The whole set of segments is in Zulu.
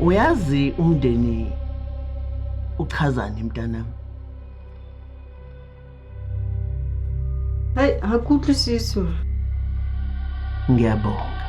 uyazi umndeni uchazani mntanami hayi akuthi sisi ma ngiyabonga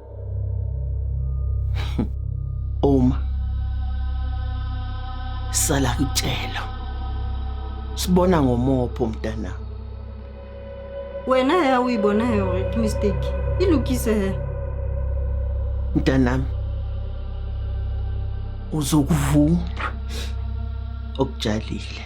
Uma sala kutshela. Sibona ngomopho mntana. Wena ya uyibona yona ke mistake. Ilukise he. Mntanami uzokuvuma okutshalile.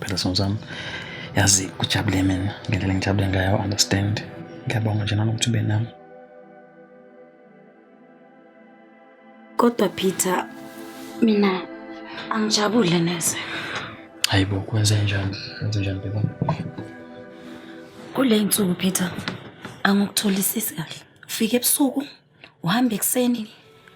Phela sono sami. Yazi kujabule mina ngendlela engijabule ngayo understand. Ngiyabonga nje nanokuthi ube nami. Kodwa Peter mina angijabule neze. Hayibo kwenze njani? Kwenze njani baba? Kule insuku Peter angikutholisisi kahle. Ufike ebusuku Uhamba ekuseni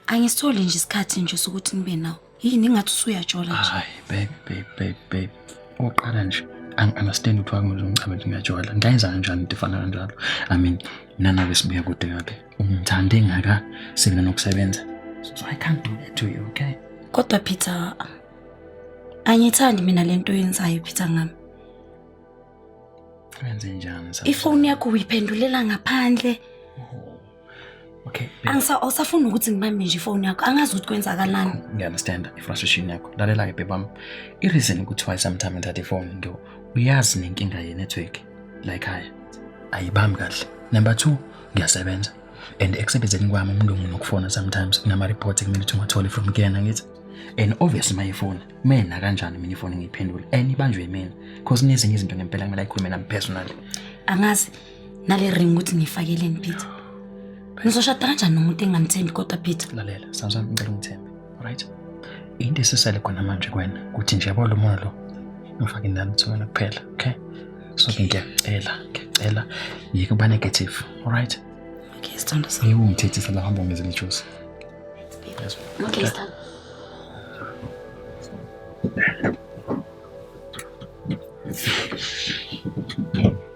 angisitholi nje isikhathi nje sokuthi nibe nawo. Yini ingathi usuyajola nje. Hayi baby baby baby baby. Oqala nje angi-understand ukuthi wakumele ungichamele ngiyajola. Ngayenza kanjani into efana kanjalo? I mean mina nawe sibuya kude kabi. Ungithande ngaka sina nokusebenza. So I can't do that to you, okay? Kodwa Peter angithandi mina lento yenzayo Peter ngami. Wenze njani? Ifoni yakho uyiphendulela ngaphandle. Okay. Angisa awusafuni ukuthi ngibambe nje ifoni yakho. Angazi ukuthi kwenzakalani. Ngiyaunderstand i-frustration yakho. Lalela ke bebam. I-reason kuthiwa sometimes ngithatha ifoni nto uyazi nenkinga ye-network la ekhaya. Ayibambi kahle. Number 2 ngiyasebenza. And ekusebenzeni kwami umlungu nokufona sometimes kunama report ekumele ukuthi ngiwathole from kuyena ngithi and obviously my phone mina kanjani mina ifoni ngiyiphendula and ibanjwe yimina because nezinye izinto ngempela kumele ayikhulume nami personally angazi nale ring ukuthi ngiyifakeleni peter ngizoshada kanjani nomuntu engamthembi kodwa peter lalela samsam ngicela ungithembe right into esisele khona manje kwena ukuthi nje yabo lo moya lo ngifake nami thumela kuphela okay so ke ngiyacela ngiyacela yeke uba negative alright okay sithando sami yebo ngithethisa la hamba ngizele juice yes okay sithando Thank you.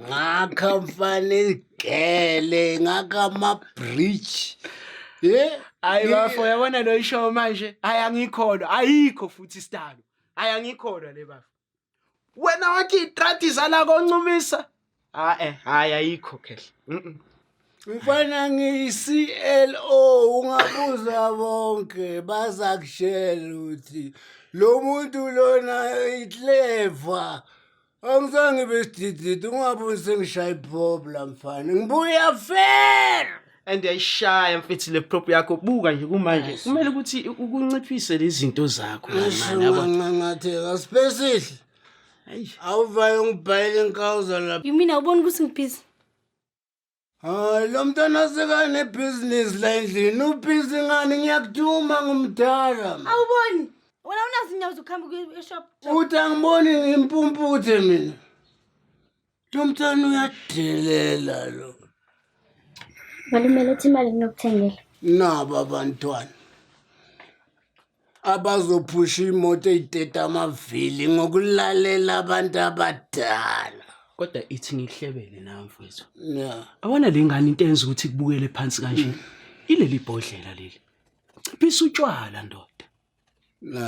ngakha mfana izigele ngakha ama-bridge ye hayi bafo yabona lo ishow manje hayi angikholwa ayikho futhi isitalo hayi angikholwa le bafo wena wathi itradi zala koncumisa hayi hayi ayikho khehla mfana ngiyi-clo ungabuza bonke baza kushela ukuthi lo muntu lona itleva Angizange besidididi ungaboni sengishaya iprob la mfana. Ngibuya fair. and yayishaya mfethu le prop yakho buka nje kumanje kumele ukuthi ukunciphise lezinto zakho mani yabo Ngangangatheka sibesihle. Awuvayo ngibhayile inkawuza lapha. You mean awuboni ukuthi ngibhizi? Hayi lo mntwana sekanebhizinisi la endlini ubhizi ngani ngiyakuduma ngumdala ma. Awuboni? Wena unazo inyawo zokuhamba ukuya eshop. uthi angiboni ngimpumputhe mina lo mntwana uyadelela lo Malume letha imali nginokuthengela. nabo abantwana abazophusha imoto eyideda amavili ngokulalela abantu abadala kodwa ithi ngikuhlebele nawe mfowethu ya awona le ngane into enza ukuthi kubukele phansi kanje ileli bhodlela leli ciphisa utshwala ndoda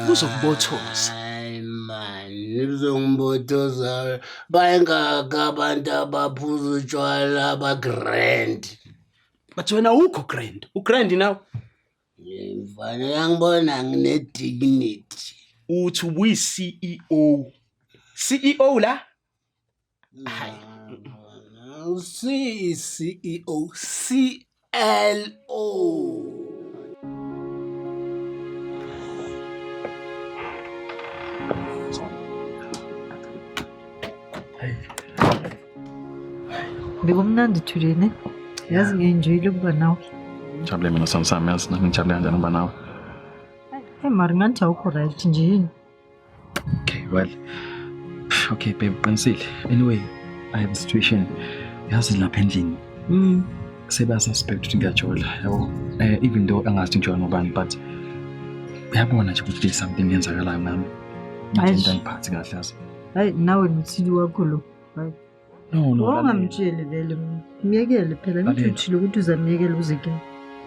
kuzokubothoza hayi mani uzongibothoza bayengaka abantu abaphuza utshwala abagrand but wena awukho grand ugrand nawe Mfana uyangibona ngine dignity. Uthi ubuyi CEO. CEO la? Hayi. Usi CEO CLO. Bekumnandi Thulini. Yazi ngiyenjoyile ukuba nawe. Ngijabule mina sami sami yazi nami ngijabule kanjani ukuba nawe. Hey mari ngathi awukho right nje yini? Okay, well. Okay, babe, qinisile. Anyway, I have a situation. Yazi lapha endlini. Mm. Seba suspect ukuthi ngiyajola, yabo. Eh even though angazi ukuthi ngijola ngobani but uyabona nje ukuthi something yenzakalayo nami. Ngathi Eish. into angiphathi kahle yazi. Hayi nawe nomthili wakho lo. Hayi. No, no. lalela. Ungamtsheli vele mina. Myekele phela ngithi Lalela. uthile ukuthi uzamyekela uzeke.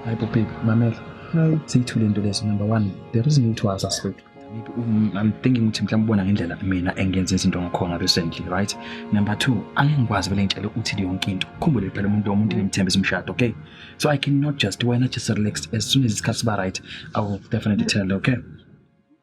Hayi bo baby, mamela. Hayi. Siyithule into leso number 1. There is no to us as well. Maybe um, I'm thinking ukuthi mhlawumbe ubona ngendlela mina engenza izinto ngakhona recently, right? Number 2, angeke ngikwazi vele ngitshele uthile yonke into. Khumbule phela umuntu omuntu ngimthembisa umshado, okay? So I cannot just wena just relax as soon as isikhathi siba right, I will definitely tell, okay?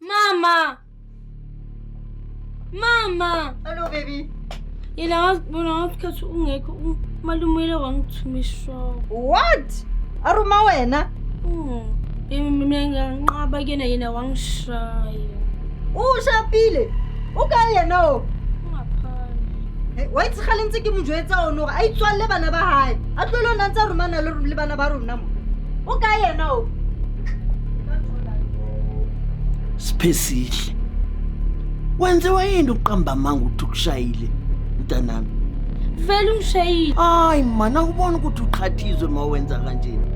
Mama! Mama! Hello baby. Yena wazibona ngasikhathi ungekho u- umalume uyile wangithuma ishoko. What? Aruma wena? Mm. Yena mina nganqaba kuyena yena wangishaya. Ushapile. O kae yena o? Ungaphandle. Eh, Wa itse gale ntse ke mo jwetsa ono gore a itswalle bana ba hae. A tlole o ne a ntse a romana le le bana ba rona mo. O kae yena o? Siphesihle. Wenziwa yini uqamba amanga ukuthi ukushayile mntanami? Vele ungishayile. Hayi man awubona ukuthi uqhathizwe uma wenza kanjena.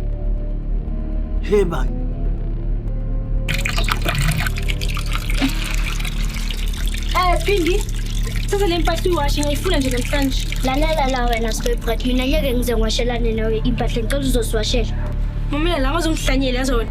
Hey bani. Eh Phindi, thatha le mpahla uyiwashe ngiyifuna nje namhlanje. Lalela la wena Sibebrat, mina ngeke ngize ngiwashelane nawe impahla ngicela uzosiwashela. Mamela la ngazongihlanyela yazona.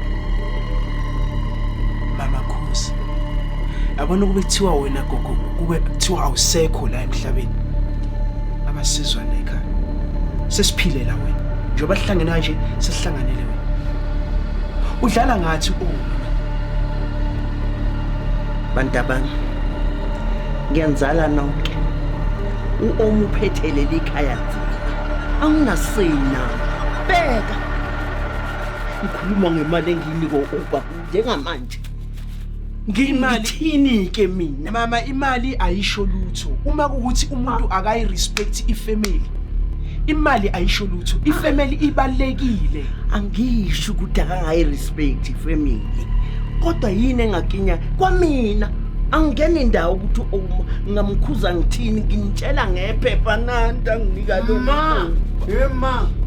Mama Khosi. Yabona kube kuthiwa wena gogo kube kuthiwa awusekho la emhlabeni. Abasizwa lekhaya. Sesiphile la wena. Njengoba sihlangene kanje sesihlanganele wena. Udlala ngathi u Bantabami. Ngiyanizala nonke. U-Omu uphethelele ikhaya nzima. Anginasina. Bheka ngikhuluma ngemali engiyinika u-uber njengamanje ngithini-ke mina mama imali ayisho lutho uma kukuthi umuntu akayi-respect ifamily imali ayisho lutho ifamily ibalulekile angisho ukuthi akangayi-respect ifamily kodwa yini engakinya kwamina angingena indawo ukuthi uma ngingamkhuza ngithini nginitshela ngephepha nanti anginika lona Hey ma,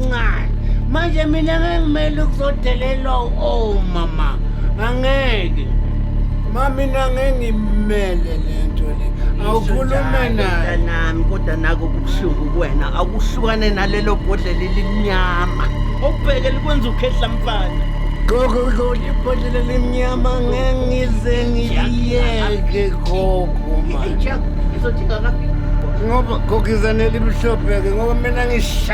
ncane manje mina ngengimele ukuzodelelwa oh mama angeke mamina ngengimele lento le awukhulume naye nami kodwa nako kubuhlungu kuwena awukuhlukane nalelo bhodlela elimnyama okubheke likwenza ukhehla mfana gogo gogo ibhodlela elimnyama ngengize ngiliyeke gogo manje ngoba gogizane elimhlophe-ke ngoba mina ngisha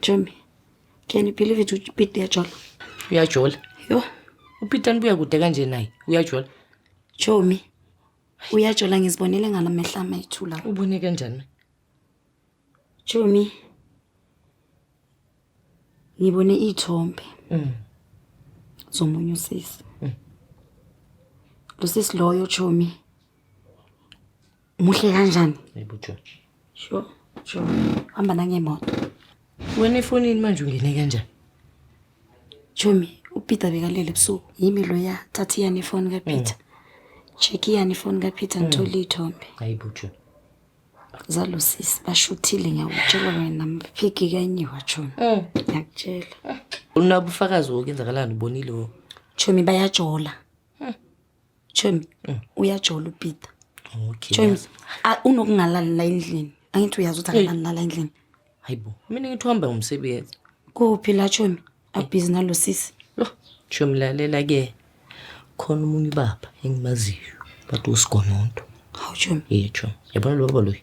Jemmy, can you believe it uPete uyajola? Uyajola. Yho, UPeter nibuya kude kanje naye. Uyajola. Jommy. Uyajola ngizibonele ngala mehla amayithula. Ubone kanjani? Jommy. Ngibone ithombe. Mm. Zomunye usisi. Mm. Lo sisi loyo Jommy. muhle kanjani ebujo sure sure hamba nangemoto wena efonini manje ungene kanjani chomi upeter bekalele ebusuku yimi loya thatha iyani ifoni kapeter mm. check iyani ifoni kapeter mm. ngithole iy'thombe hayi bujo zalusisi bashuthile ngiyakutshela wena mphiki kanye wachona mm. ngiyakutshela unabufakazi wokenzakalani ubonile wo chomi bayajola James, mm. uyajola uPeter. Okay. James, unokungalali la endlini. Angithi uyazi ukuthi akalali la endlini. Hayibo, mina ngithi uhamba ngomsebenzi. Kuphi la James? Abhizi nalo sisi. Lo, James lalela ke. Khona umunye baba engimaziyo. Bathi usigononto. Hawu James. Yethu. Yabona lo baba loyi.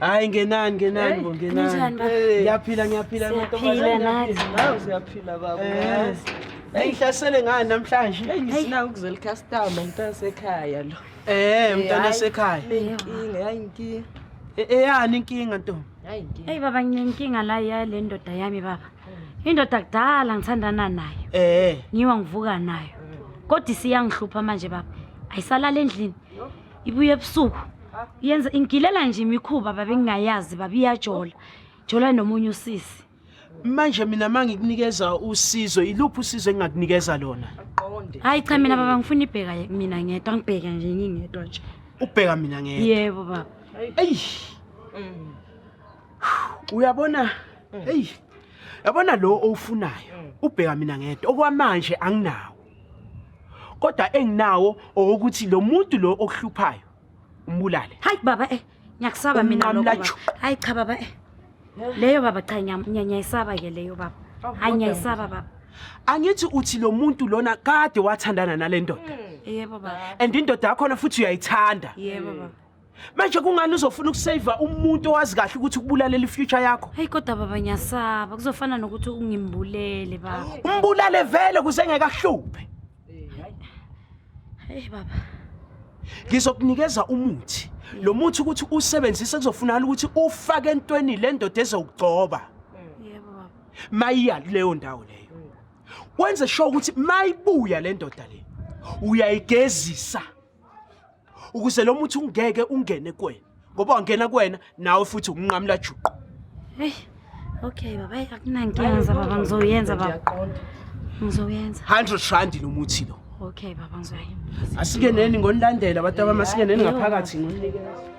Hayi ngenani ngenani bo ngenani. Ninjani baba? Eh, Ngiyaphila ngiyaphila Siyaphila mantombazane. nathi. ngiyaphila. Nawe siyaphila baba. Eh. uyazi. Hey ngihlasele ngani namhlanje? Hey ngisina ukuzela customer mntana sekhaya lo. Eh mntana Hayi. sekhaya. Inkinga yayi inkinga. E- Eyani inkinga ntombi? Yayi inkinga. Eyi baba nginenkinga la yale ndoda yami baba. Indoda kudala ngithandana nayo. Eh. Ngiwa ngivuka nayo. Kodwa isiyangihlupha manje baba. Ayisalala endlini. ibuye ebusuku yenza ingilela nje imikhuba babengingayazi baba iyajola jola nomunye usisi manje mina mangikunikeza usizo iluphi usizo engingakunikeza lona qonde hayi cha mina baba ngifuna ibheka mina ngedwa ngibheke nje ngingedwa nje ubheka mina ngedwa yebo baba eyi mm. uyabona mm. eyi yabona lo owufunayo mm. ubheka mina ngedwa okwamanje anginawo kodwa enginawo owokuthi lo muntu lo okuhluphayo umbulale hayi baba eh ngiyakusaba mina lokho hayi cha baba eh leyo baba cha ngiyanyayisaba ke leyo baba hayi ngiyayisaba baba angithi uthi lo muntu lona kade wathandana nale ndoda hmm. yebo baba and indoda yakhona futhi uyayithanda yebo baba manje kungani uzofuna ukuseva umuntu owazi kahle ukuthi ukubulalela ifuture yakho hayi kodwa baba ngiyasaba kuzofana nokuthi ungimbulele baba umbulale vele kuze engekahluphe hayi baba ngizokunikeza umuthi lo muthi ukuthi usebenzise kuzofunakala ukuthi ufake entweni le ndoda ezokugcoba yebo baba mayiya kuleyo ndawo leyo wenze sure ukuthi mayibuya le ndoda le uyayigezisa ukuze lo muthi ungeke ungene kuwena ngoba wangena kuwena nawe futhi ukunqamula juqu hey okay baba akunankinga za baba ngizoyenza baba ngizoyenza 100 rand lo muthi lo okay baba ngizoyenza asingeneni ngonilandela abantu abamasingeneni ngaphakathi ngoninikela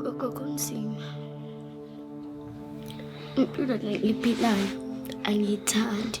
Gogo kunzima. Impilo le iphilayo angiyithandi.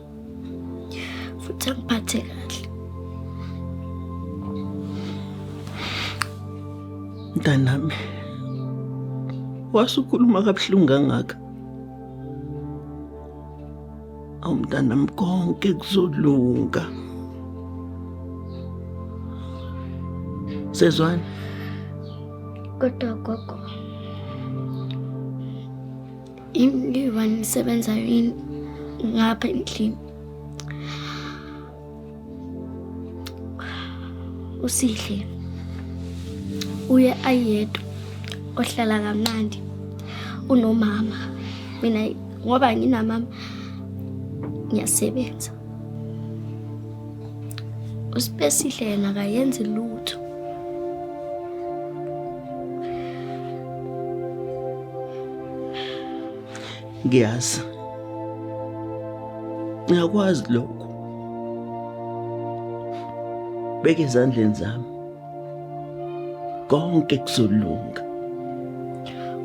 futhi angiphathe kahle. Mntanami, wasukhuluma kabuhlungu kangaka. Awu mntanami konke kuzolunga. Sezwani? Kodwa gogo Ingivani isebenzayo yini ngapha endlini? Usihle uye ayedwa ohlala kamnandi unomama mina ngoba nginamama ngiyasebenza usipesihle yena akayenzi lutho ngiyazi ngiyakwazi lokho beke ezandleni zami konke kuzolunga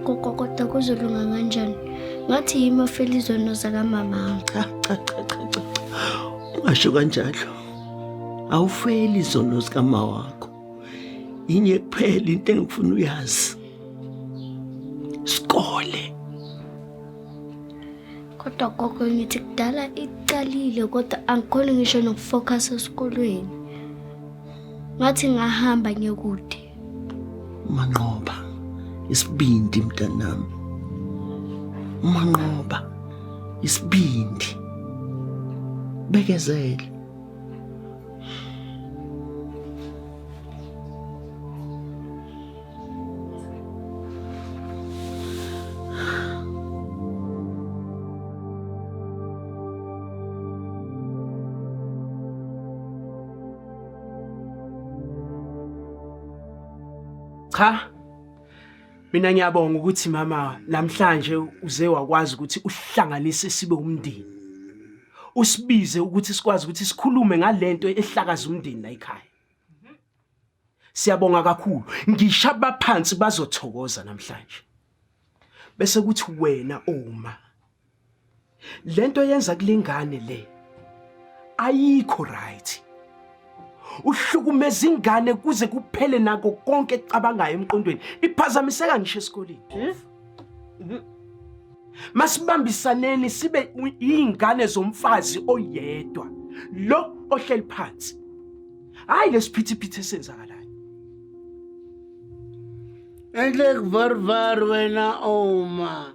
gogo kodwa kuzolunga kanjani ngathi yimi ofela izono zakamama cha cha cha cha cha ungasho kanjalo awufeli izono zikamama wakho yinye kuphela into engifuna uyazi sikole kodwa gogo ngithi kudala iqalile kodwa angikhoni ngisho nokufocus esikolweni ngathi ngahamba ngekude manqoba isibindi mntanami manqoba isibindi bekezele Cha. Mina ngiyabonga ukuthi mama namhlanje uze wakwazi ukuthi uhlanganise sibe umndeni. usibize ukuthi sikwazi ukuthi sikhulume ngalento ehlakaza umndeni la ekhaya siyabonga kakhulu ngisho abaphansi bazothokoza namhlanje bese kuthi wena uma lento yenza kulengane le ayikho right uhlukumeza ingane kuze kuphele nako konke ekucabangayo emqondweni iphazamiseka ngisho esikoleni masibambisaneni sibe iy'ngane zomfazi oyedwa lo ohleli phansi hhayi lesiphithiphithi esenzakalayo Endlek varvar wena oma.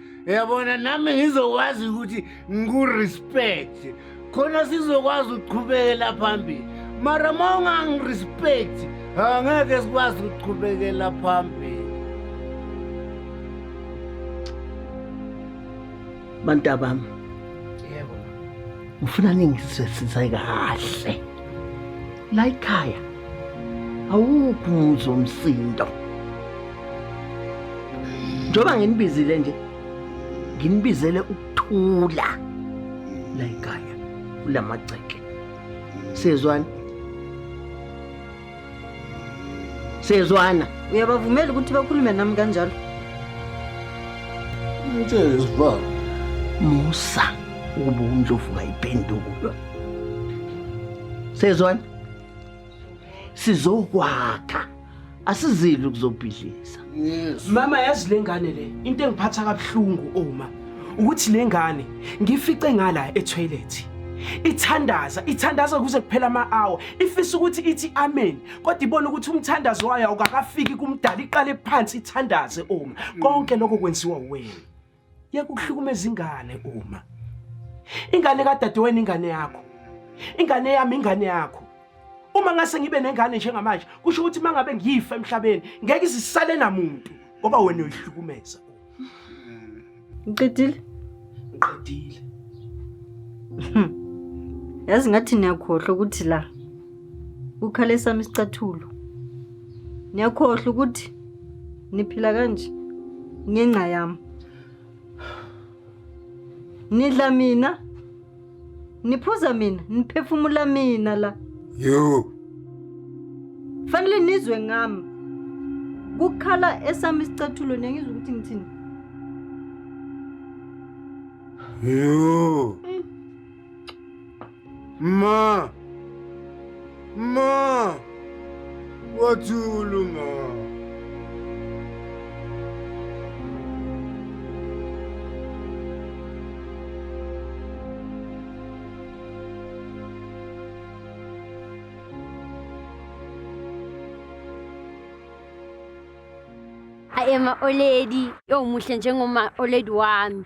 yabona nami ngizokwazi ukuthi ngikurespect khona sizokwazi ukuqhubekela phambili mara ma ungangi-respect angeke sikwazi ukuqhubekela phambili bantabami yebo ngifuna ningisisize kahle la ikhaya awukho umuzi womsindo njengoba nginibizile nje nginibizele ukuthula la ikhaya kula magceke sezwani sezwana uyabavumela ukuthi bakhulume nami kanjalo Mtshele sibaba. musa ukuba umdlovu kayipendukulwa sezwani sizokwakha asizili ukuzobhidliza mama yazi le ngane le into engiphatha kabuhlungu uma ukuthi le ngane ngifice ngala etoilet ithandaza ithandaza kuze kuphela ama-hour ifisa ukuthi ithi amen kodwa ibona ukuthi umthandazo wayo awukakafiki kumdala iqale phansi ithandaze uma konke lokho kwenziwa wena yeka ukuhlukumeza ingane uma ingane kadadewenu ingane yakho ingane yami ingane yakho uma ngase ngibe nengane njengamanje kusho ukuthi uma ngabe ngifa emhlabeni ngeke izisale namuntu ngoba wena uyihlukumeza ngiqedile ngiqedile yazi ngathi niyakhohlwa ukuthi la kukhale sami isicathulo niyakhohlwa ukuthi niphila kanje ngenxa yami nidla mina niphuza mina niphefumula mina la yo fanele nizwe ngami kukhala esami isicathulo niyangizwa ukuthi ngithini yo Ma! Ma! Wathulu ma! I am a oledi. Yo muhle njengoma oledi wami.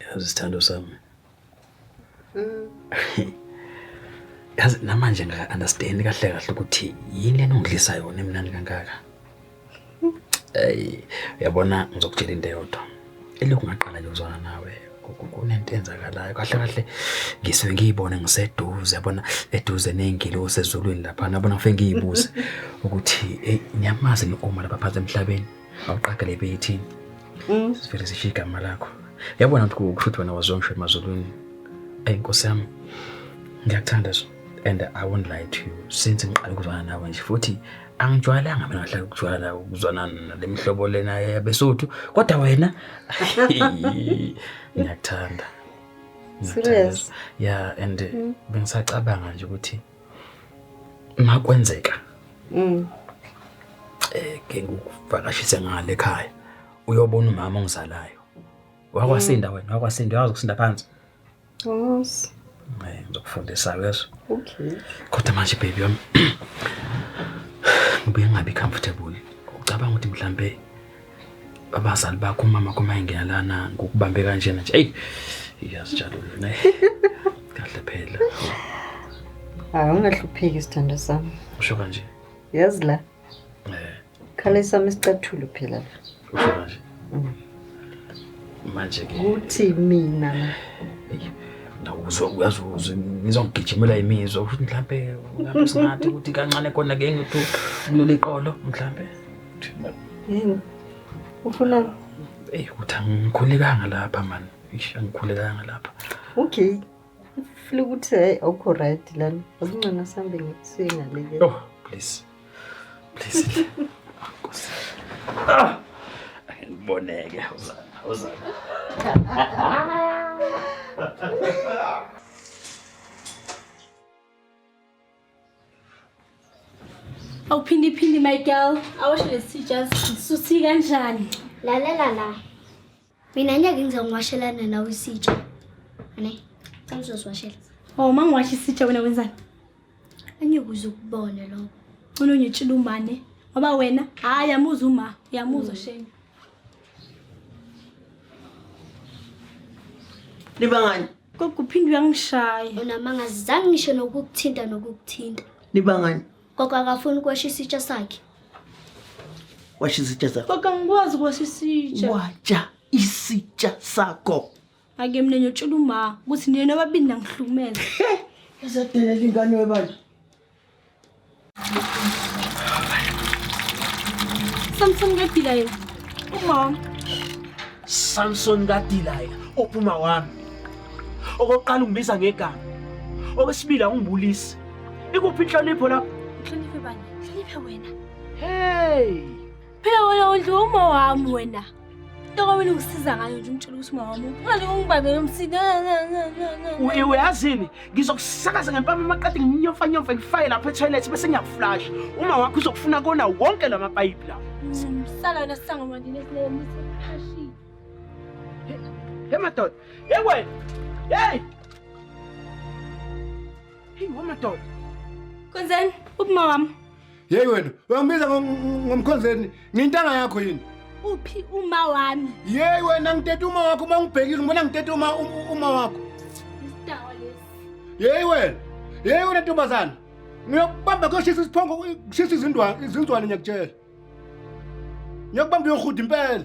Yazi sithando sami. Mm. Yazi namanje ngaka understand kahle kahle ukuthi yini lena ongidlisa yona emnandi kangaka. Ey, uyabona ngizokutshela into eyodwa. Elokhu ngaqala nje ukuzwana nawe kunento enzakalayo kahle kahle ngisuke ngiyibone ngiseduze yabona eduze nezingilo sezulwini lapha nabona ngifike ngiyibuze ukuthi hey niyamazi ni Omar lapha phansi emhlabeni awuqagele ibe yithini mm. sivele sishiye igama lakho yabona ukuthi kusho ukuthi wena waziwa ngisho emazulwini eyi nkosi yami ngiyakuthanda so and i won't lie to you since ngiqale ukuzwana nawe nje futhi angijwayelanga mina ngahlala ukujwayela ukuzwana nale mihlobo lena yabesothu kodwa wena ngiyakuthanda serious yeah and mm. bengisacabanga nje ukuthi makwenzeka mm eh ke ngikuvakashise ngale ekhaya uyobona umama ongizalayo wakwasinda mm. wena wakwasinda uyazi ukusinda phansi yes eh ngizokufundisa yeso okay kodwa manje baby yami ngibuye ngabi comfortable ucabanga ukuthi mhlambe abazali bakho umama kuma engena lana ngokubambe kanjena nje eyi iyazijabula ne kahle phela hayi ungahlupheki sithando sami usho kanje yazi la eh khale sami sicathulo phela la usho kanje mm. manje ke kuthi mina ndawuzwa uyazi uzwe ngizongigijimela imizwa ukuthi mhlambe ngabe singathi ukuthi kancane kona ke ngithi ukulula iqolo mhlambe Yini? Ufuna Ey ukuthi angikhulekanga lapha man. Eish angikhulekanga lapha. okay. Ufuna ukuthi hayi awukho right lana. Akungcono sambe ngikusuye ngaleke. Oh, please. Please. Nkosi. Ah! Angiboneke uzana, uzana. Awuphindi phindi my girl. Awashe lesitsha sisuthi kanjani? Lalela la. Mina ngeke ngize ngiwashelana nawe isitsha. Ane, cha ngizosiwashela. Oh, mangiwasha isitsha wena wenzani? Angikuze ukubone lokho. Unonyitshila umane. Ngoba wena hayi yamuza uma, yamuza mm. shame. Libangani? Gogo uphinde uyangishaya. Unamanga zizange ngisho nokukuthinta nokukuthinta. Nibangani? Gogo akafuni ukwasha isitsha sakhe. Washa isitsha sakho. Gogo angikwazi ukwasha isitsha. Watsha isitsha sakho. Ake mina ngiyotshela uma ukuthi nina nobabili nangihlukumeza. Ezadelela ingane webandla. Samson kaDilaya umama. Samson kaDilaya ophuma wami. Okokuqala ungibiza ngegama. Okwesibili awungibulisi. Ikuphi inhlonipho lapho? Inhlonipho bani? Inhlonipho wena. Hey! Phela wena udliwa uma wami wena. Ntoka wena ungisiza ngayo nje umtshela ukuthi uma wami ungalike ungibambele umsini. Uye uyazini ngizokusakaza ngempama amaqadi nginyomfanyomfe ngifaye lapha etoilet bese ngiyakuflasha. Uma wakho uzokufuna kona wonke la mapayipi lawo. Sala wena sisango manje nesilele mse phashile. Hey madoda. Hey wena. Hey. Hey wena madoda. Kwenzeni? Uphi mawami? Yeyi wena, uyangibiza ngo- ngo- ngomkhonzeni, ngiyintanga yakho yini? uphi uma wami Yeyi wena ngiteta uma wakho uma ngibhekile, ngibona ngiteta uma um- uma wakho. isidawa lesi Yeyi wena, yeyi wena ntombazana. Ngiyokubamba kuyoshisa isiphongo, kushisa izindwa, izinzwane ngiyakutshela. Ngiyokubamba uyohuda impela.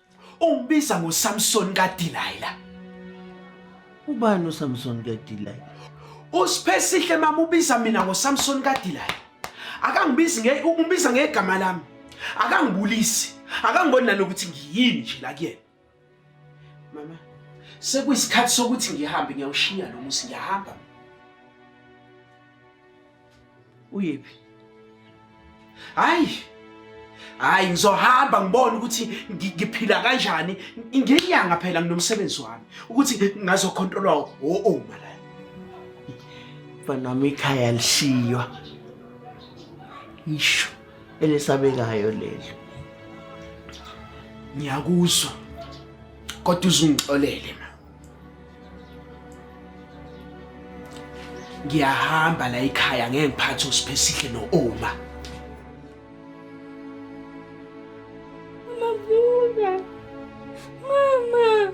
Ungibiza ngoSamson kaDelilah. Ubani uSamson kaDelilah? Usiphesihle mama ubiza mina ngoSamson kaDelilah. Akangibizi nge ungibiza ngegama lami. Akangibulisi. Akangiboni nalokuthi ngiyini nje la kuyena. Mama, sekuyisikhathi sokuthi ngihambe ngiyawushiya lo musi ngiyahamba. uyephi hayi hayi ngizohamba ngibone ukuthi ngiphila kanjani ngenyanga phela nginomsebenzi wami ukuthi ngazokhontolwa o-oma la fanami ikhaya lishiywa isho elesabekayo lelo ngiyakuzwa kodwa uzungixolele ma ngiyahamba la ekhaya ngeke ngiphathe usiphe sihle no-oma Mavuka. Mama.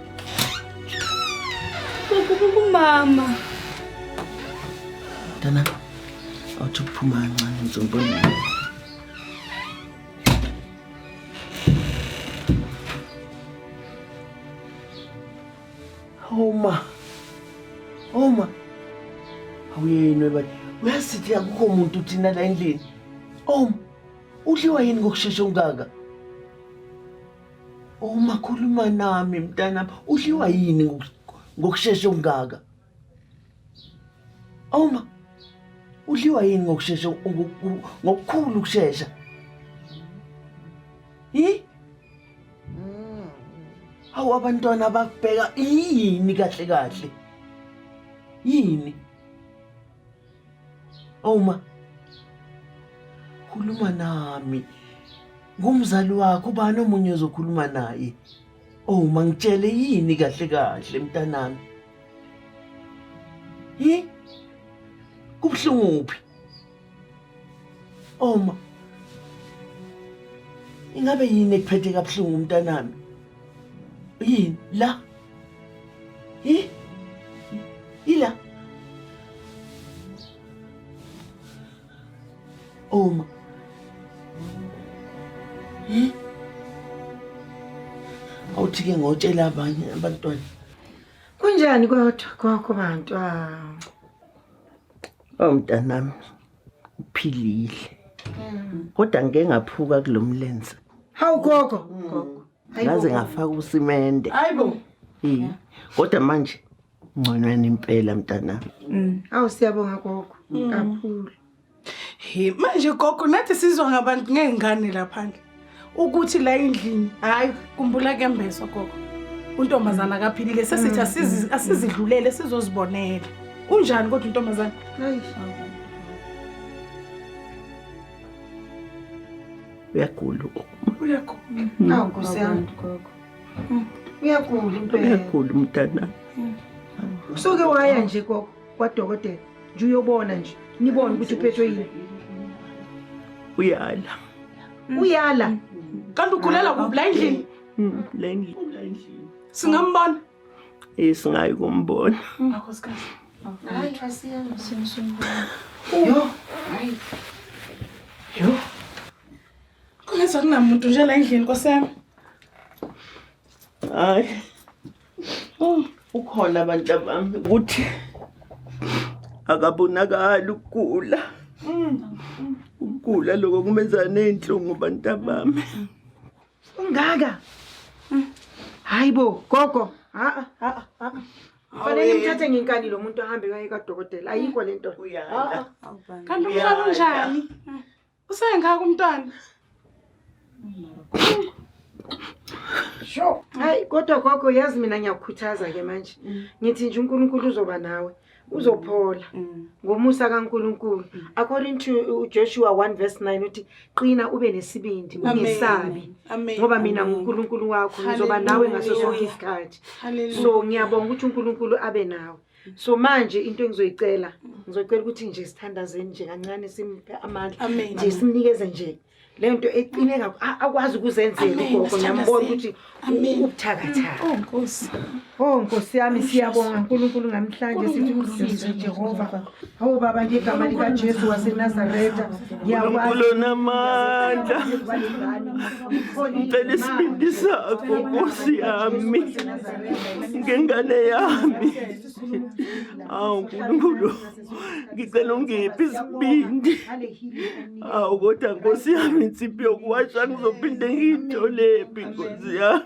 Mama. Dana, awuthi ukuphuma kancane ngizobona. Homa. Homa. Awuyeni webani. Uyasithi akukho muntu thina la endlini. Homa. Udliwa yini ngokushesha ungaka? Uma khuluma nami mntanami, udliwa yini ngoku- ngokushesha okungaka? Uma udliwa yini ngokushesha ngoku- ngokukhulu ukushesha? Hi? Hawu abantwana bakubheka yini kahle kahle? Yini? Awu ma, khuluma nami. Ngumzali wakho, ubani omunye ozokhuluma naye? Awu ma, ngitshele yini kahle kahle mntanami? Hi? Kubuhlungu phi? Awu ma, ingabe yini ekuphethe kabuhlungu mntanami? Yini la? Hi? Ila. Oma. Hi? Awuthi ke ngotshela abanye abantwana. Kunjani kodwa kwakho bantwana? Oh mntanami. uphilile kodwa ngike ngaphuka kulo mlenze hawu gogo ngaze ngafaka usimende hayibo Eh, kodwa manje ngconweni impela mntanami Mm. awu siyabonga gogo kakhulu Hi, manje gogo nathi sizwa ngabantu ngey'ngane laphandle ukuthi la endlini hayi kumbula kuyambezwa gogo untombazana akaphilile sesithi mm, asizi- mm, asizidlulele sizozibonela unjani kodwa untombazana uyagula u- uyagula awu nkosi yami uyagula impela uyagula umntanami usuke waya nje gogo kwadokotela nje uyobona nje nibone ukuthi uphethwe yini uyala uyala kanti ugulela kuphi la endlini Mm, la endlini singambona Eh, singayi kumbona yo hayi yo kungenza kunamuntu nje la endlini nkosi yami Hayi. Oh, ukhona abantu abami ukuthi akabonakali ukugula. Ukugula lokho kumenza nezinhlungu abantu abami. Ungaka. Hayibo, gogo. Ha ha ha. Fanele ngithathe ngenkani lo muntu ahambe kaye kadokotela. Ayikho lento. Uyala. Kanti umhlaba unjani? Usengaka umntwana. Sho, hayi kodwa gogo yazi mina ngiyakukhuthaza ke manje. Mm. Ngithi nje uNkulunkulu uzoba nawe. Uzophola mm. mm. ngomusa kaNkulunkulu. According to Joshua 1 verse 9 uthi qina ube nesibindi ungesabi. Ngoba mina nguNkulunkulu wakho ngizoba nawe ngaso sonke isikhathi. So ngiyabonga ukuthi uNkulunkulu abe nawe. so manje into engizoyicela ngizocela ukuthi nje sithandazeni nje kancane simuphe amandla nje simnikeze nje leyo nto eqine akwazi ukuzenzela ugogo ngiyambona ukuthi ubuthakathaka o oh, nkosi o oh, nkosi yami siyabonga nkulunkulu ngamhlanje sithi umsize jehova Hawu baba ngegama likaJesu waseNazaretha ngiyakwazi unamandla ngicela isibindi sakho nkosi yami ngengane yami awu nkulunkulu ngicela ungiphi isibindi awu kodwa nkosi yami insiphi yokuwasha ngizophinde ngiyitholephi nkosi yami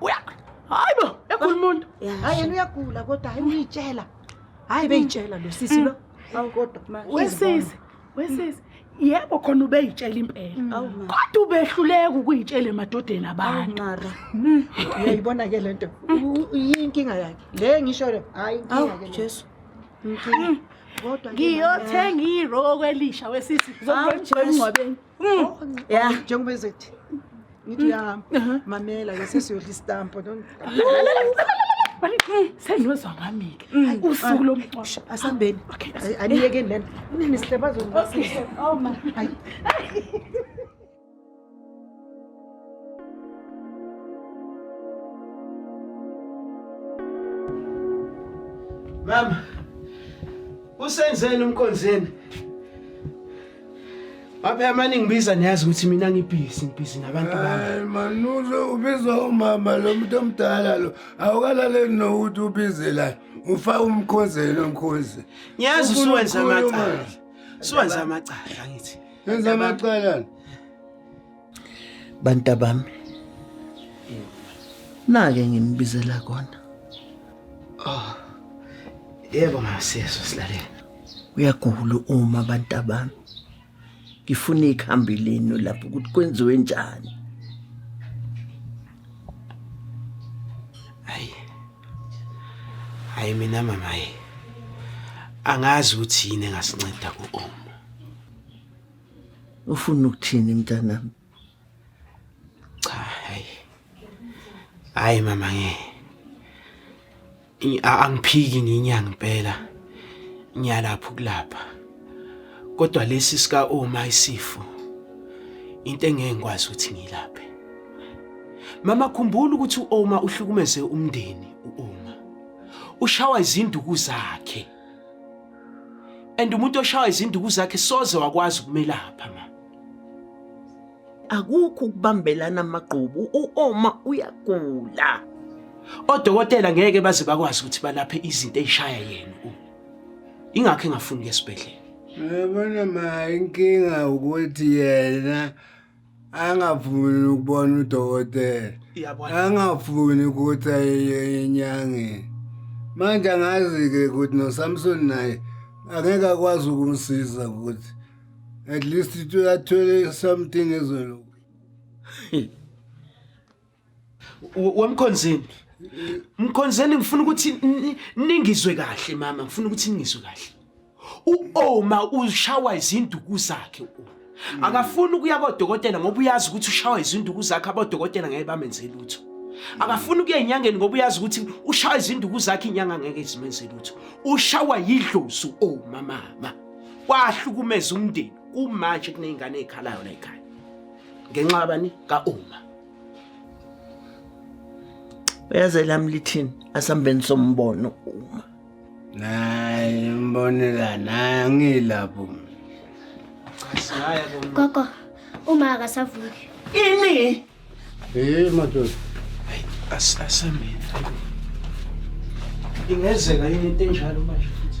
uya hayi bo egula umuntu hayi yena uyagula kodwa hayi uyitshela hayi beyitshela lo sisi lo mm. awu kodwa manje wesisi wesisi yebo khona ubeyitshela impela mm. kodwa ubehluleka ukuyitshela emadodeni abantu mara mm. uyayibona ke lento yinkinga yakhe le ngisho le hayi inkinga ke Jesu inkinga kodwa ngiyothenga iroko elisha wesisi ngizokwenza ingcwabeni Mm. Oh, yeah. Njengoba ezothi ngithi uyahamba mm. uh-huh. mamela ke sesiyodla istampo mm. senizwa ngami-ke usuku lomngcwabo asambeni aniyekeni lena unini sihlebazonibasisa Mama, usenzeni umkonzeni? Baphe mani ngibiza niyazi ukuthi mina ngibhizi ngibhizi nabantu bami. Hayi manuze ubizwa umama lo muntu omdala lo awukalaleli nokuthi ubize la ufa umkhozelo mkhozi. Ngiyazi usuwenza amacala. Suwenza amacala ngithi. Yenza amacala. bantabami nake nginibizela kona oh yebo masiyeso silalele uyagula uma bantabami ngifuna ikhambi lenu lapho ukuthi kwenziwe njani hayi hayi mina mama hayi angazi ukuthi yini engasinceda ku-om ufuna ukuthini mntanami cha hayi hayi mama nge angiphiki nginyanga impela ngiyalapha ukulapha kodwa lesi sika oma isifo into engeke ngikwazi ukuthi ngilaphe mama khumbula ukuthi uoma uhlukumeze umndeni uoma ushawa izinduku zakhe and umuntu oshawa izinduku zakhe soze wakwazi ukumelapha ma akukho ukubambelana amagqubu uoma uyagula odokotela ngeke baze bakwazi ukuthi balaphe izinto ezishaya yena u ingakho engafuni ke esibhedlela yabona ma inkinga ukuthi yena angafuni ukubona udokotela angafuni ukuthi aye enyangeni manje angazi-ke ukuthi nosamsoni naye angeke akwazi ukumsiza ukuthi at least athole something ezolunga Wemkhonzeni. Mkhonzeni ngifuna ukuthi ningizwe kahle mama, ngifuna ukuthi ningizwe kahle. U-Oma ushawa izinduku zakhe u-Oma. Hmm. Akafuni ukuya kodokotela ngoba uyazi ukuthi ushawa izinduku zakhe abodokotela ngeke bamenze lutho. Akafuni ukuya enyangeni ngoba uyazi ukuthi ushawa izinduku zakhe inyanga ngeke izimenze lutho. Ushawa yidlozi u-Oma mama. Wahlukumeza umndeni kumanje kunezingane ezikhalayo la ekhaya. Ngenxa yabani ka-Oma. uyaze lami lithini asambeni sombono uma naye mbonela naye angilapho gogo uma akasavuki ini hey madoda asameni Ingenzeka yini into enjalo manje futhi?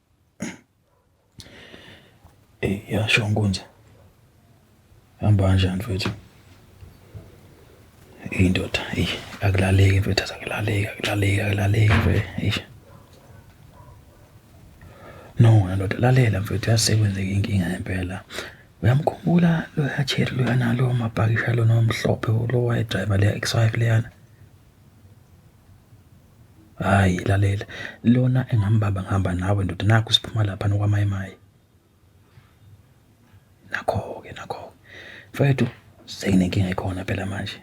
Ey, yasho Nkunzi. Hamba kanjani mfethu? Ey ndoda, ey akulaleki mfethu, akulaleki, akulaleki, akulaleki mfethu. Ey. No, ndoda lalela mfethu, yasekwenzeka inkinga ngempela. Uyamkhumbula lo hatsheri loyana lo mabhakisha lona omhlophe lo wayedrayiva le X5 leyana? Hhayi lalela lona engambamba ngihamba nawe ndoda nakhu siphuma laphana kwaMaye Maye. Nakho-ke nakho-ke mfwethu sekunenkinga ekhona phela manje.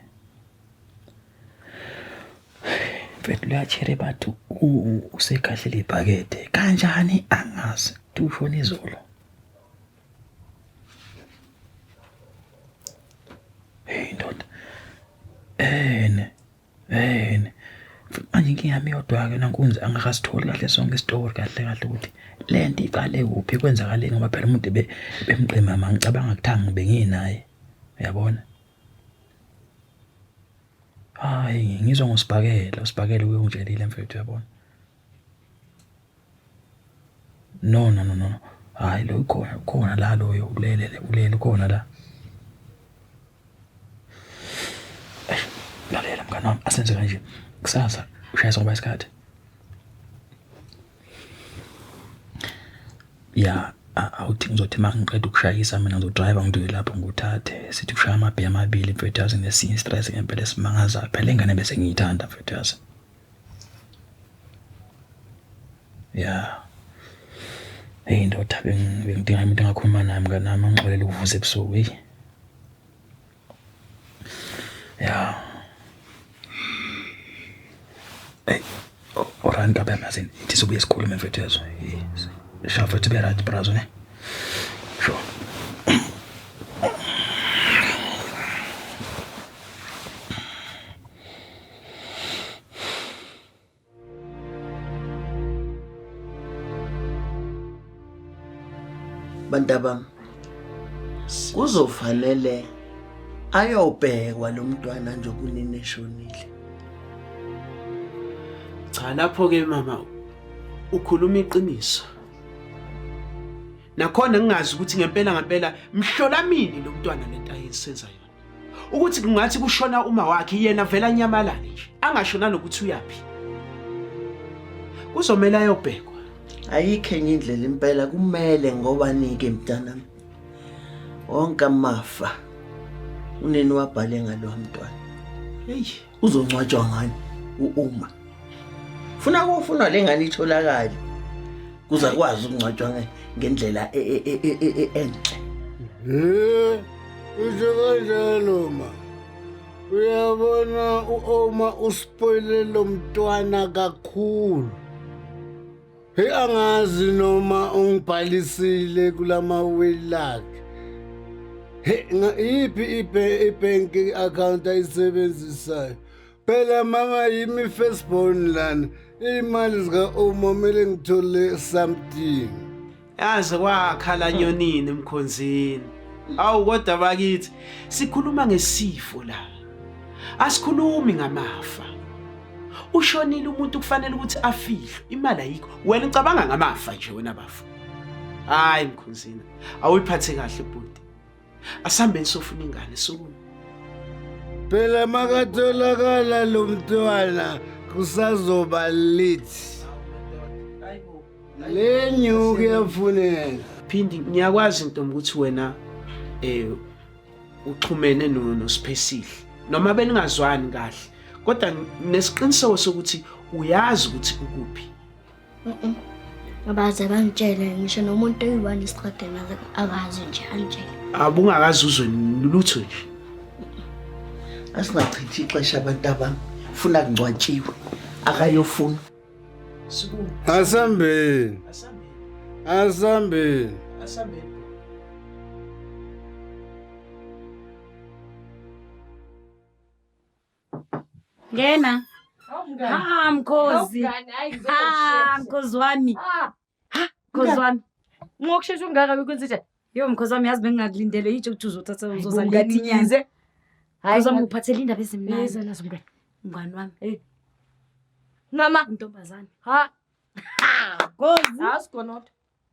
Mfwethu liyatjheri bathi usekhahlele ibhakede kanjani angazi uthi ushone izolo. Hheyi ndoda ene Hey, manje inkinga yami yodwa-ke nankunzi angakasitholi kahle sonke isitori kahle kahle ukuthi le nto iqale kuphi kwenzakaleni ngoba phela umuntu bemgqima ma ngicabanga kuthangi benginaye uyabona hhayi ngizwa ngosibhakela usibhakela uke ungitshelile mfethu uyabona No, no, no, no. Hhayi lo ukhona, ukhona la loyo ulele le, ulele ukhona la. Eish, Lalela mngani wami, asenze kanje. Kusasa ushaya soba isikhathi. Ya, a- awuthi ngizothi uma ngiqeda ukushayisa mina ngizodrive ngidwile lapho ngikuthathe. Sithi kushaya amabhiya amabili mfethu yazi ngesinye istress ngempela esimangazayo. Phela ingane bese ngiyithanda mfethu yazi. Ya. Eyi ndoda bengidinga umuntu engakhuluma naye mnganami angixolele ukuvusa ebusuku eyi. Ya. Eyi o right ntombam yazi ithi sibuye sikhulume mfethu uyezwa. Sha mfethu be right bra zwane. Sho. bantabami kuzofanele ayobhekwa lo mntwana nje kunini eshonile cha lapho-ke mama ukhuluma iqiniso nakhona ngingazi ukuthi ngempela ngempela mhlola mini lo mntwana lento ayensenza yona ukuthi kungathi kushona uma wakhe yena vele anyamalale nje angasho nanokuthi uyaphi kuzomele ayobhekwa ayikho enye indlela impela kumele ngoba nike mntanami wonke amafa unini wabhale ngalo mntwana eyi Uzongcwatshwa ngani uUma? Funa kufuna lengane itholakale. Kuza kwazi ukungcwatshwa ngendlela e, e, e, enhle. Eh, usho kanjalo ma. Uyabona uOma uspoile lo mntwana kakhulu. Hey angazi noma ungibhalisile kulama will lakhe. Hey iphi ibank account ayisebenzisayo? Phela mama yimi first born lana. Imali zika Uma mele ngithole something. Yaze kwakhala nyonini emkhonzini. Awu kodwa bakithi sikhuluma ngesifo la. Asikhulumi ngamafa. Ushonile umuntu kufanele ukuthi afihlwe imali ayikho. Wena ucabanga ngamafa nje wena bafo. Hayi mkhonzini awuyiphathe kahle bhuti. asihambeni sofuna ingane sukuma phela makatholakala lo mntwana kusazoba lithi le nyuku yafuneka phindi ngiyakwazi ntombi ukuthi wena eh uxhumene noSiphesihle noma beningazwani kahle kodwa nesiqiniseko sokuthi uyazi ukuthi ukuphi abaze bangitshele ngisho nomuntu oyi-one esiqwadeni akazi nje angitshele abungakazi uzwe lutho nje asingachithi ixesha abantu abami funa kungcwatshiwe akayofuna asambeni asambeni asambeni Ngena. Ah mkhozi. Ah mkhozi wami. Ah mkhozi wami. Ngokushesha ungaka ukwenza njani? Yo mkhozi wami yazi bengingakulindele yitsho ukuthi uzothatha uzoza ngani ngize. Hayi uzama ukuphathela indaba ezimnandi. Yeza nazo mngani. Mngani wami. Hey. Eh. Mama ntombazane. Ha. Mkhozi. Asikho not.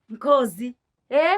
Mkhozi. Eh?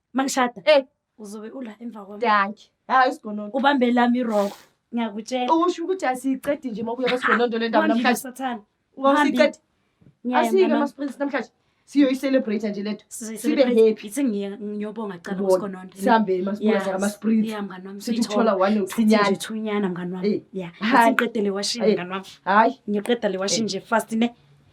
mangishada eh uzobe ula emva kwami danki hayi isigonondo ubambe lami iroko ngiyakutshela usho ukuthi asiyiqedi nje uma kuya kwesigonondo le ndaba namhlanje sathana wawusiqedi asike masiprinsi namhlanje siyoyicelebrate nje letho sibe happy ithi ngiyobonga cala kusigonondo sihambe masiprinsi masiprinsi yeah mngani wami sithola one uthinyana uthinyana mngani wami yeah siqedele washini mngani wami hayi ngiyoqeda le washini nje fast ne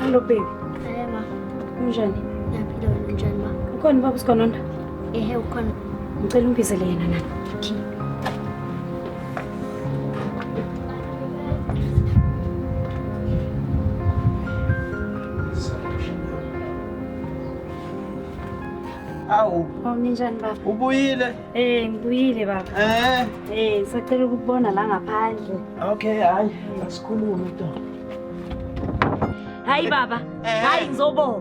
Hello baby. Hey ma. Unjani? Ngiyaphila wena unjani ma? Ukhona ubaba uSigononda? Ehe ukhona. Ngicela ungibizele yena nani. Okay. Awu. Hawu ninjani baba? Ubuyile? Eh, ngibuyile baba. Eh. Eh, ngisacela ukubona la ngaphandle. Okay, hayi. Asikhulume to. Hayi baba. Eh. Hayi ngizobonga.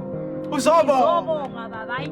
Uzobonga. Ngizobonga baba. Hayi.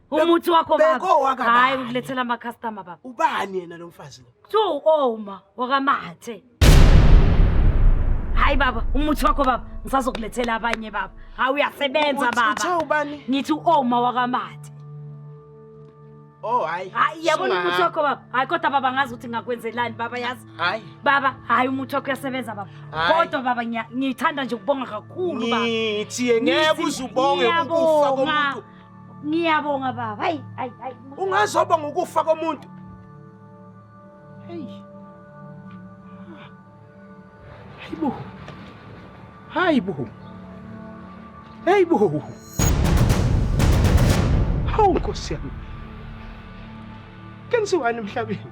umuthi wakho baba Bekowaka baba. hayi ngilethela ama customer baba ubani yena lo mfazi lo kuthiwa u-oma wakamathe hayi baba umuthi wakho baba ngisazokulethela abanye baba hayi uyasebenza Uthi- baba uthe ubani ngithi u-oma wakamathe oh hayi hayi yabona Singa- umuthi wakho baba hayi kodwa baba ngazi ukuthi ngakwenzelani baba yazi hayi baba hayi umuthi wakho uyasebenza baba Hayi. kodwa baba ngiya- ngithanda nje ukubonga kakhulu baba ngithiye ngeke Ngithi uzubonge ukufa ngiyabonga. komuntu ngiyabonga baba hayi hayi hayi ungazoba ngokufa komuntu hayi hayi bo hayi bo hayi bo hawu nkosi yami kenziwani emhlabeni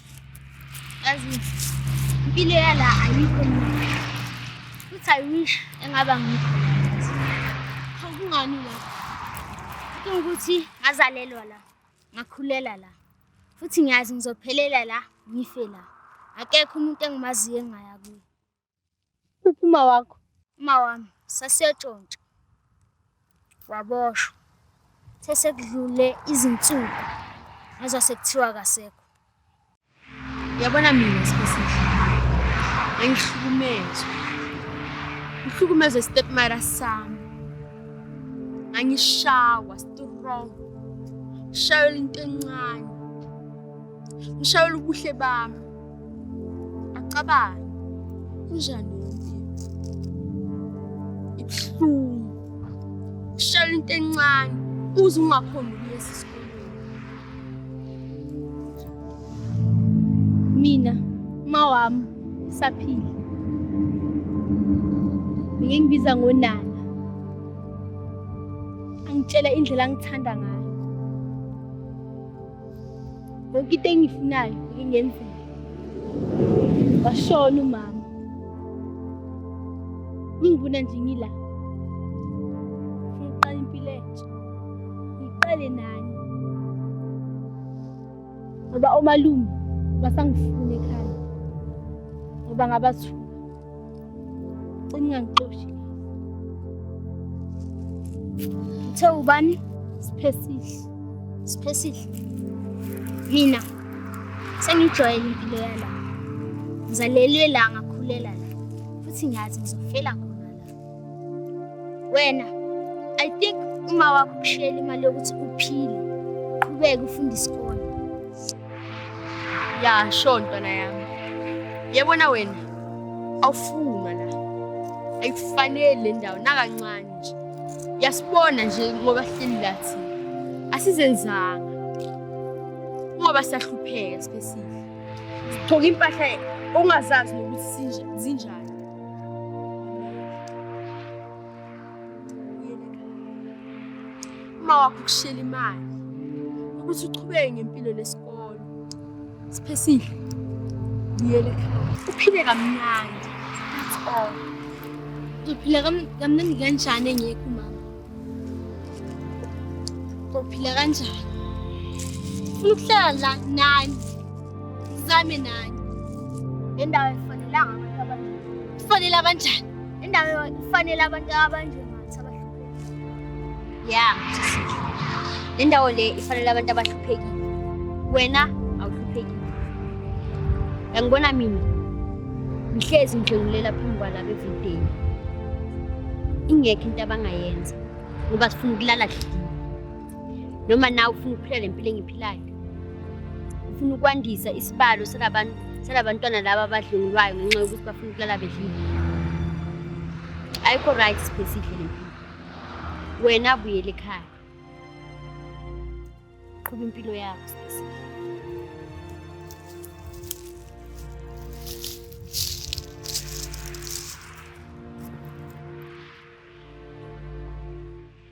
yazi impilo yala ayikho futhi i wish engaba ngikho kungani la kudinga ukuthi ngazalelwa la ngakhulela la futhi ngiyazi ngizophelela la ngife la akekho umuntu engimaziyo engaya kuye Uphuma wakho. Uma wami sasiyatshontsha. Waboshwa. Sesekudlule izinsuku. Ngezwa sekuthiwa kasekho. Yabona mina sibesihle. Ngangihlukumezwe. Ngihlukumezwe stepmother sami. Ngangishawa strong. Shayela into encane. Ngishayela ubuhle bami. Acabanga. Kunjani ibuhlungu. Ngishayela into encane uze ungakhona ukuyesa esikoleni. Mina mawami saphila. Ngeke ngibiza ngonana. Angitshela indlela angithanda ngayo. Yonke into engifunayo ingenzeka. Washona umama. Ngibona nje ngila. Ngiqala impilo entsha. Ngiqale nani. Ngoba omalume basangifuna ekhaya. Ngoba ngabathuka. Ungangixoshi. Uthe ubani? Siphesihle. Siphesihle. Mina sengijwayele impilo yala. Ngizalelwe la ngakhulela la. Futhi ngiyazi ngizofela khona la. Wena I think uma wakho kushela imali yokuthi uphile. Qhubeka ufunda isikole. ya sho ntwana yami yebona wena awufunwa la ayikufaneli le ndawo nakancane nje yasibona nje ngoba hleli lathi asizenzanga ngoba siyahlupheka sibesihle sithoka impahla ongazazi nokuthi sinje- zinjani uma wakho ukushela imali ukuthi uqhubeke ngempilo lesikolo siphesile buyele ekhaya uphile kamnandi that's all uphila kamnandi kanjani engekho umama uphila kanjani ufuna ukuhlala la nani sizame nani nendawo efanelanga abantu abanjani kufanele abanjani Indawo ifanele abantu abanjengathi abahluphekile. Ya, sisile. Le ndawo le ifanele abantu abahluphekile. Wena awuhluphekile. Yangibona mina. Ngihlezi ngijungulela phambi kwalaba evideni. Ingekho into abangayenza ngoba sifuna ukulala kuhle. noma nawe ufuna ukuphila le mpilo engiphilayo ufuna ukwandisa isibalo salabantu salabantwana laba abadlungulwayo ngenxa yokuthi bafuna ukulala bedlile ayikho right sibhesidle le mpilo wena buyele ekhaya qhuba impilo yakho sibhesidle